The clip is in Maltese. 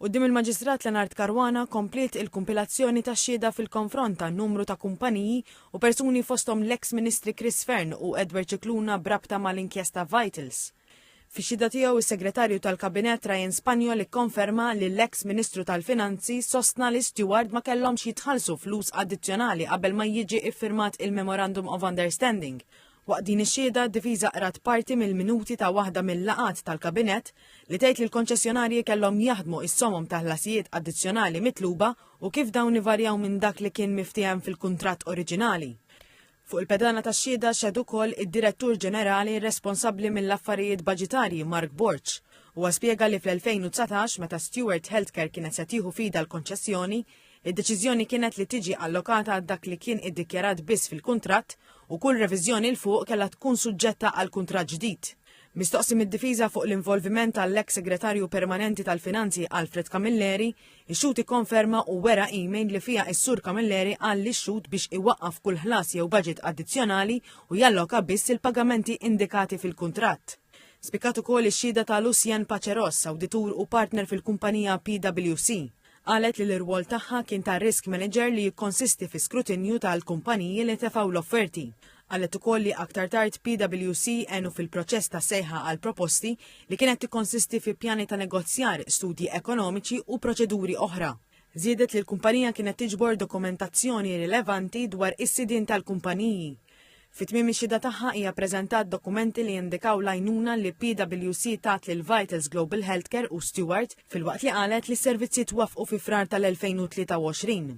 Quddiem il-Maġistrat Lenard Caruana kompliet il-kumpilazzjoni ta' xhieda fil-konfront ta' numru ta' kumpaniji u persuni fosthom l-eks Ministri Chris Fearne u Edward Scicluna b'rabta mal-inkjesta Vitals. Fix-xhieda tiegħu s-Segretarju tal-Kabinett Ryan Spaniol ikkonferma li l-eks Ministru tal-Finanzi sostna li Steward ma kellhomx jitħallsu flus addizzjonali qabel ma jiġi iffirmat il-Memorandum of Understanding Waqt din ix-xhieda, d-difiża qrat parti mill-minuti ta' waħda mill-laqgħat tal-Kabinett li tgħid li l-konċessjonarji kellhom jaħdmu is-somom ta' ħlasijiet addizzjonali mitluba u kif dawn ivarjaw minn dak li kien miftiehem fil-kuntratt oriġinali. Fuq il-pedana tax-xhieda xehed ukoll id-Direttur Ġenerali responsabbli mill-affarijiet baġitarji Mark Borg. Huwa spjega li fl-2019, meta Steward Healthcare kienet se tieħu f'idha l-konċessjoni, Id-deċiżjoni kienet li tiġi allokata għal dak li kien iddikjarat biss fil-kuntratt u kull reviżjoni 'l fuq kellha tkun suġġetta għal kuntratt ġdid. Mistoqsi mid-difiża fuq l-involviment tal-eks Segretarju Permanenti tal-Finanzi Alfred Camilleri, ix-xhud ikkonferma u wera email li fiha s-Sur Camilleri qal lix-xhud biex iwaqqaf kull ħlas jew baġit addizzjonali u jalloka biss il-pagamenti indikati fil-kuntratt. Spikkat ukoll ix-xhieda ta' Lucien Paceros, awditur u partner fil-kumpanija PwC. Qalet li l-irwol tagħha kien ta' risk manager li jikkonsisti fi skrutinju tal-kumpaniji li tefgħu l-offerti. Qalet ukoll li aktar tard PwC għenu fil-proċess ta' sejħa għal proposti li kienet tikkonsisti fi pjani ta' negozjar, studji ekonomiċi u proċeduri oħra. Żiedet li l-kumpanija kienet tiġbor dokumentazzjoni rilevanti dwar is-sidien tal-kumpaniji. Fi tmiem ix-xhieda tagħha hija ppreżentat dokumenti li jindikaw l-għajnuna li PWC tat lil Vitals Global Healthcare u Steward filwaqt li qalet li s-servizzi twaffqu fi Frar tal-2023.